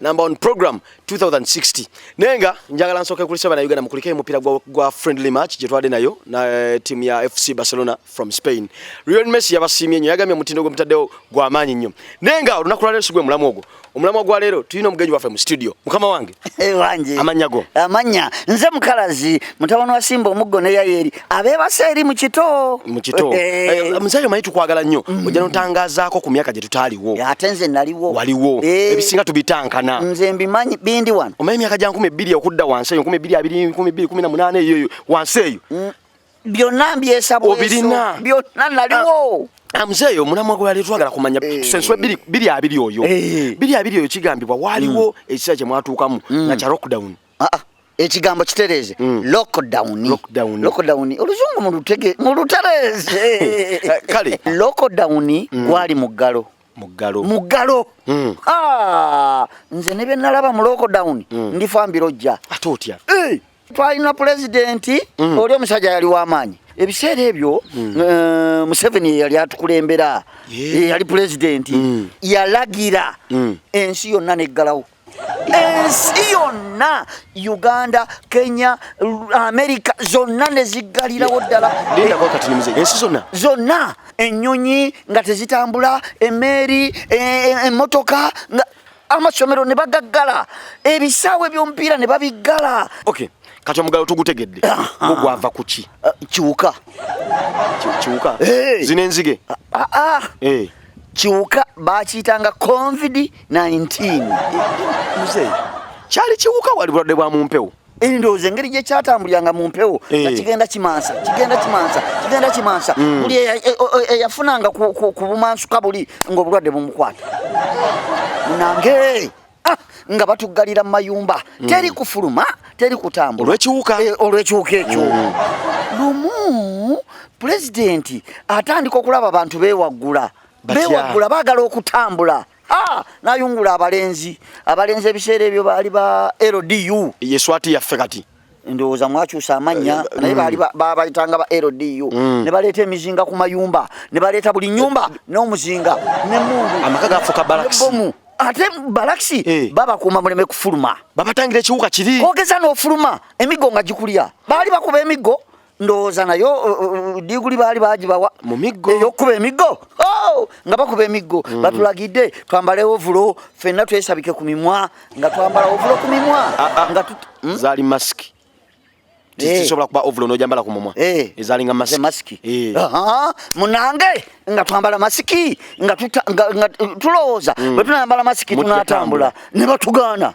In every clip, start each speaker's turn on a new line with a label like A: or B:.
A: number on program 2060 naye nga njagala nsooke kulisa bana uganda mukulika emupira gwa, gwa friendly match gyetwade nayo na eh, timu ya fc barcelona from spain real messi yabasiimye nyo yagambye omutindo gwe mutaddewo gwa maanyi nnyo naye nga olunaku lwaleero si gwe mulamu ogwo omulamwa gwa leero tulina omugenyi waffe mu studio mukama wange eh, wange amanya
B: go amanya
A: nze
B: mukalazi mutabani wa simba omuggo ne yayeri abebase eri mu kito mu kito eh. Eh,
A: musajja manyi tukwagala nnyo mm. ojja notangazaako ku myaka gye tutaaliwo ate nze naliwo
B: waliwo eh. ebisinga
A: tubitankana nze mbimanyi
B: bindi wano omanyi emyaka gya nkumi ebbiri
A: okudda wansi eyo nkumi ebbiri abiri nkumi ebbiri kumi na munaana eyoeyo wansi eyo mm. byonna
B: mbyesabobirina byonna naliwo ah. Ah, mzee yo mulamwa
A: gwa letu agala kumanya hey. Eh. senso bili bili abili oyo hey. Eh. bili abili oyo kigambibwa waliwo mm. ekisa kye mwatukamu mm. na cha lockdown ah, ah, ekigambo
B: kitereeze mm. lockdown lockdown lockdown oluzungu mulutege mulutereeze kale
A: lockdown mm.
B: gwali mm. muggalo muggalo muggalo mm. ah, nze ne bye nalaba mu lockdown mm. ndifa mbirojja ate otya hey!
A: Eh, twalina
B: pulezidenti mm. oli omusajja yali w'amaanyi ebiseera ebyo mm. eh, museveni yeyali atukulembera yeyali pulezidenti mm. yalagira ensi yonna neggalawo ensi yonna uganda kenya amerika zonna neziggalirawo ddala
A: zonna
B: enyonyi nga tezitambula emeeri e, e, emotoka nga amasomero ne bagaggala ebisaawe byomupiira ne babiggala okay. kati
A: omugalo tugutegedde gugwava kuki uh, kiwuka
B: kiwuka
A: hey. zino enzige ah, ah. hey. Eh. kiwuka
B: bakiyitanga convidi 19
A: mzee kyali kiwuka wali bulwadde bwa mumpewo endowooza engeri gye
B: kyatambuliranga mu mpewo eh. nga kigenda kimansa kigenda kimansa kigenda kimansa hmm. buli e- e- e- eyafunanga ku bumansuka buli ng'obulwadde bumukwata nange ah, nga batuggalira mu mayumba hmm. teri kufuluma teri kutambula olwekiwuka eh, olwekiwuka ekyo hmm. lumu pulezidenti atandika okulaba abantu bewaggula bewaggula baagala okutambula Ah, nayungula abalenzi abalenzi ebiseera ebyo baali ba ldu yeswati yaffe kati
A: ndowooza mwakyusa
B: amannya eh, eh, naye baali mm. babayitanga ba ldu mm. ne baleeta emizinga ku mayumba ne baleeta buli nyumba n'omuzinga nemundu amaka gafuka
A: balakisibomu ate balakisi
B: eh. babakuuma muleme kufuluma babatangira ekiwuka kiri
A: kogeza n'ofuluma
B: emiggo nga gikulya baali bakuba emiggo ndowooza naye diguli baali bagibawa mu miggo eyokukuba
A: emiggo
B: oh! nga bakuba emiggo mm. batulagidde twambale ovulo fenna twesabike ku mimwa nga twambala ovulo ku mimwa ah, ah. nga hmm? zaali
A: masiki eh. tisobola kuba ovulo nojambala ku mumwa eh. ezalinga masiki eh.
B: munange nga twambala masiki nga tulowooza mm. bwe tunayambala masiki tunatambula ne batugaana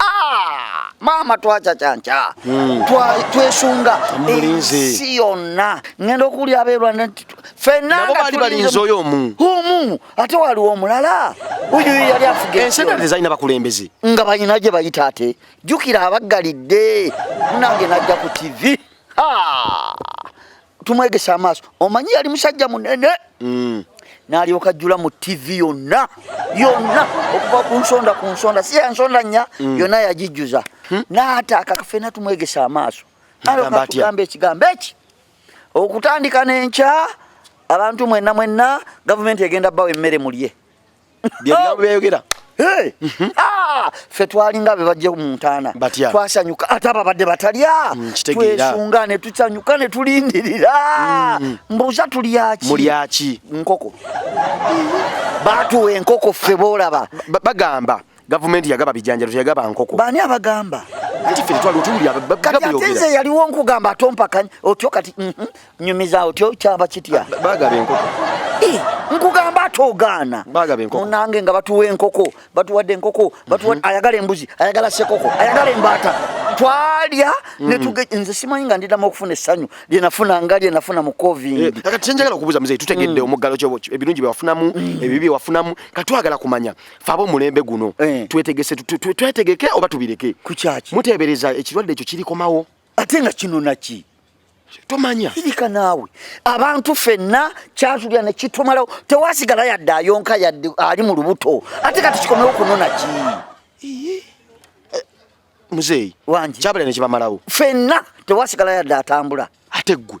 B: Ah, maama twacacanca hmm. twesunga ensi yonna ngenda okuwulira abeerwanda nti fenanabali balinze oyo
A: omu omu
B: ate waliwo omulala oyo yali afuga ensi endala tezalina bakulembeze
A: nga balina gye
B: bayita ate jjukira abaggalidde munange najja ku tivi ah! tumwegese amaaso omanyi yali musajja munene mm. nalyoka jjula mu tv yonna yonna okuva ku nsonda ku nsonda si yansonda nnya mm. yonna yagijjuza hmm? naataaka kafena tumwegese amaaso alokatugamba ekigambo eki okutandika nenkya abantu mwenna mwenna gavumenti egenda bawa emmere mulye
A: byebigambo
B: byayogera mhm. ah, fe twalinga bebajje mu ntaana twasanyuka ate ababadde batalya mm, twesunga ne tusanyuka ne tulindirira mm. mbuuza tulyaki mulyaki
A: nkoko
B: baatuwa enkoko ffe boolaba bagamba
A: gavumenti yagaba bijanjalo teyagaba nkoko bani abagamba
B: nti ffe twali
A: otuwulira kati ate nze
B: yaliwo nkugamba ate ompakanya otyo kati mhm, nyumiza otyo kyaba kitya bagaba enkoko
A: eh, nkugamba
B: ate ogaana munange nga batuwa enkoko batuwadde enkoko mhm. ayagala embuzi ayagala sekoko ayagala embaata twalya mm. netuge nze simanyi nga ndidamu okufuna essanyu lyenafuna nga lyenafuna mu covid eh, kati kyenjagala okubuuza muzeyi
A: tutegedde mm. omuggalo kyo ebirungi byewafunamu mm. ebibi byewafunamu katwagala kumanya faba omulembe guno eh. twetegese twetegeke oba tubireke kukyaki muteebereza
B: ekirwadde
A: ekyo kirikomawo ate nga kino
B: naki tomanya
A: kirika naawe
B: abantu fenna kyatulya ne kitumalawo tewasigala yadde ayonka yadde ali mu lubuto ate kati kikomewo kunona ki eh,
A: muzeeyi wangi kyabala ne
B: kibamalawo
A: fenna tewasigala
B: yadde atambula ate ggwe